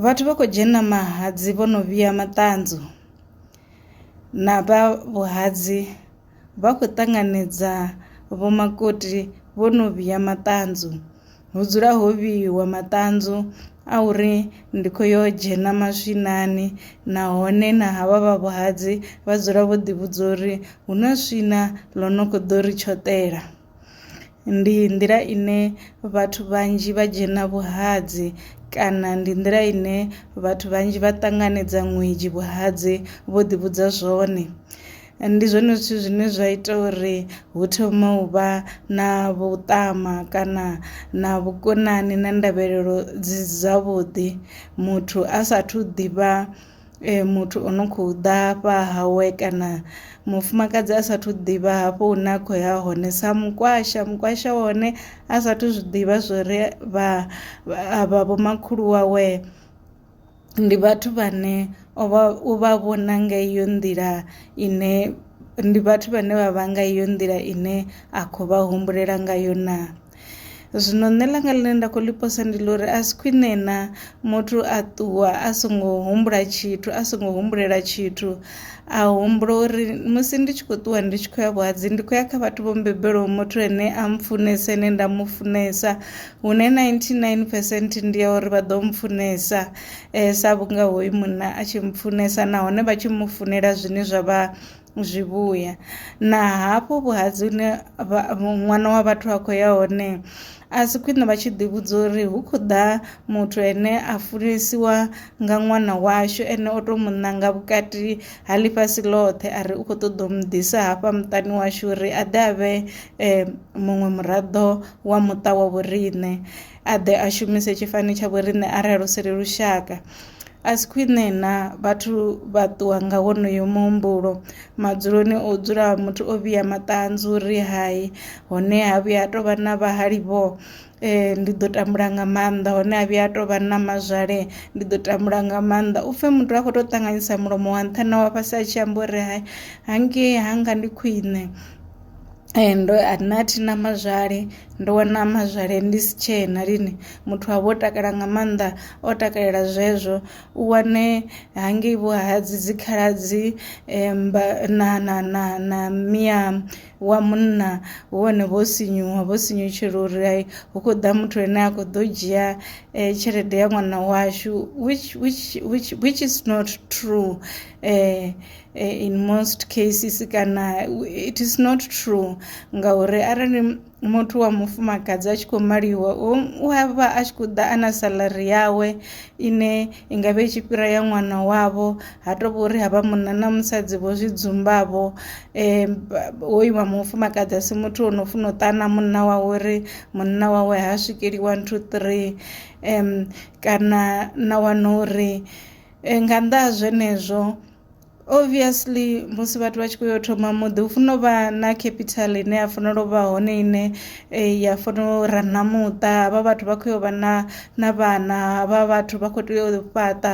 Vhathu vha kho dzhena mahatsi vho no vhea maṱanzwa na vha vhuhadzi vha khou ṱanganedza vho makoti vho no vhea maṱanzwa hu dzula ho vheyiwa maṱanzwa a uri ndi kho yo dzhena maswinani nahone na havha vha vhuhadzi vha dzula vho ḓi vhudza uri hu na swina ḽo no kho ḓo ri tshoṱela. Ndi nḓila ine vhathu vhanzhi vha dzhena vhuhadzi kana ndi nḓila ine vhathu vhanzhi vha ṱanganedza ṅwedzhi vhuhadzi vho ḓi vhudza zwone. Ndi zwone zwithu zwine zwa ita uri hu thoma u vha na vhuṱama kana na vhukonani na ndavhelelo dzi dza vhuḓi muthu a sathu ḓivha. muthu o no kho ḓa hafha hawe kana mufumakadzi a sathu ḓivha hafho hune a kho ya hone sa mukwasha mukwasha wa hone a sathu zwiḓivha zwori vha avha vho makhulu wawe ndi vhathu vhane o vha u vha vhona nga iyo nḓila ine ndi vhathu vhane vha vha nga iyo nḓila ine a kho vha humbulela ngayo naa. Zwino nṋe ḽanga ḽine nda khou ḽi posa ndi ḽa uri a si khwine na muthu a ṱuwa a songo humbula tshithu a songo humbulela tshithu a humbula uri musi ndi tshi kho ṱuwa ndi tshi khou ya vhuhadzi ndi khou ya kha vhathu vho mbembelaho muthu ane a mpfhunesa ane nda mu funesa hune ninety nine percent ndi ya uri vha ḓo mpfhunesa sa vhunga hoyu munna a tshi mpfhunesa nahone vha tshi mu funela zwine zwa vha zwivhuya na hafhu vhuhadzi hune ṅwana wa vhathu a khou ya hone a si khwine vha tshi ḓi vhudza uri hu khou ḓa muthu ane a funesiwa nga ṅwana washu ene o to mu ṋanga vhukati ha ḽifhasi ḽothe a ri u kho ṱoḓa u mu ḓisa hafha muṱani washu uri a ḓe a vhe muṅwe muraḓo wa muṱa wa vhoriṋe. a ḓe a shumise tshifani tsha vhoriṋe arali hu si ri lushaka a si khwine na vhathu vha ṱuwa nga wonoyo muhumbulo madzuloni o dzula muthu o vhiya maṱanzu ri hai hone ha vhuya ha tou vha na vhahali vho eh, ndi ḓo tambula nga maanḓa hone ha vhuya ha tou vha na mazwale ndi ḓo tambula nga maanḓa u pfe muthu a khou tou ṱanganyisa mulomo wa nṱha na wa fhasi a tshi amba uri hai hangei hanga ndi khwine ndo nṋe a thi na mazwale ndo wana mazwale ndi si tshena lini muthu wavha o takala nga maanḓa o takalela zwezwo u wane hangei vho ha dzi dzi khaladzi mmba na na na na miya wa munna hu hone vho sinyuwa vho sinyutshela uri hai hu khou ḓa muthu ane a kho ḓo dzhia tshelede ya ṅwana washu which which which which is not true . Eh, in most cases kana it is not true ngauri arali muthu wa mufumakadzi a tshi khou maliwa u a vha a tshi khou ḓa a na salari yawe ine i nga vha i tshi fhira ya ṅwana wavho ha tou vha uri ha vha munna na musadzi vho zwi dzumbavho um hoyu wa mufumakadzi a si muthu o no funa u ṱana munna wawe uri munna wawe ha swikeli one two three um kana na wana uri Eh, nga nnḓa ha zwenezwo obviously musi vhathu vha tshi khou yo thoma muḓi hu fanela u vha na capital ine ya fanela u vha hone ine eh, ya fanela u rana muṱa havha vhathu vha khou yo vha na na vhana havha vhathu vha khou tea u fhaṱa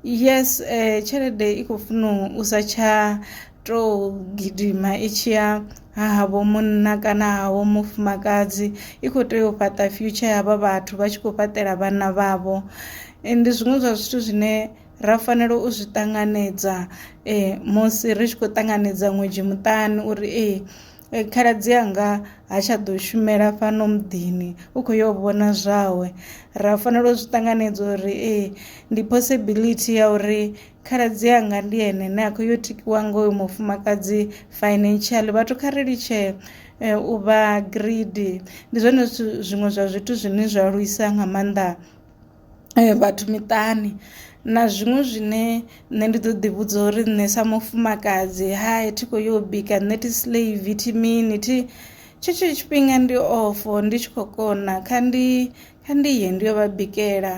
yes eh, tshelede i khou funa u sa tsha tou gidima i tshi ya ha havho munna kana havho mufumakadzi i khou tea u fhaṱa future ya vha vhathu vha tshi khou fhaṱela vhana vhavho ndi zwiṅwe zwa zwithu zwine ra fanela u zwi ṱanganedza um musi ri tshi khou ṱanganedza ṅwedzhi muṱani uri ee khaladzi anga ha tsha ḓo shumela fhano muḓini u khou yo vhona zwawe ra fanela u zwi ṱanganedza uri ee ndi possibility ya uri Khaladzi anga ndi ene ne a khou yo tikiwa nga uyu mufumakadzi financially vhathu kha ri litshe eh, u vha greedy ndi zwone zwithu zwiṅwe zwa zwithu zwine zwa lwisa nga maanḓa eh, vhathu miṱani na zwiṅwe zwine nṋe ndi ḓo ḓi vhudza uri nṋe sa mufumakadzi hai thi khou yo u bika nṋe thi slave thi mini thi tshetsho tshifhinga ndi ofo ndi tshi khou kona kha ndi kha ndi ye ndi yo vha bikela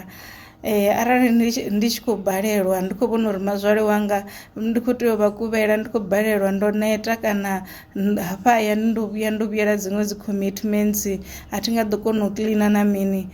arali ndi tshi ndi tshi khou balelwa ndi khou vhona uri mazwale wanga ndi khou tea u vha kuvhela ndi khou balelwa ndo neta kana nd- hafha hayani ndo vhuya ndo vhuyela dziṅwe dzi commitments a thi nga ḓo kona u kiḽina na mini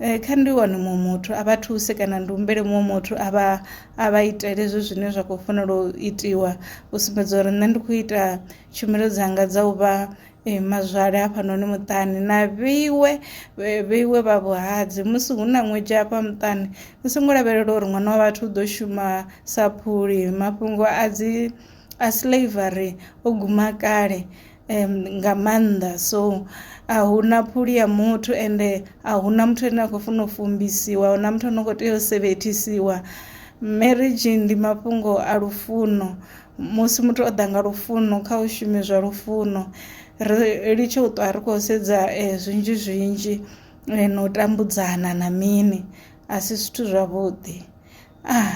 Eh, kha ndi wane muṅwe muthu a vha thuse kana ndi humbele muṅwe muthu a vha a vha itele hezwo zwine zwa khou fanela u itiwa u sumbedza uri nṋe ndi khou ita tshumelo dzanga dza u vha Ee, mazwale hafhanoni muṱani na vheiwe vhe- vheiwe vha vhuhadzi musi hu na ṅwedzhi hafha muṱani ni songo lavhelela uri ṅwana wa vhathu u ḓo shuma sa phuli mafhungo a dzi a slavery o guma kale em, nga maanḓa so a hu na phuli ya muthu ende a hu na muthu ane a khou funa u fumbisiwa a hu na muthu ane a khou tea u sevethisiwa marriage ndi mafhungo a lufuno musi muthu o ḓa nga lufuno kha u shume zwa lufuno ri litshe u ṱwa ri khou sedza eh, zwinzhi zwinzhi eh, na u tambudzana na mini a si zwithu zwavhuḓi ah.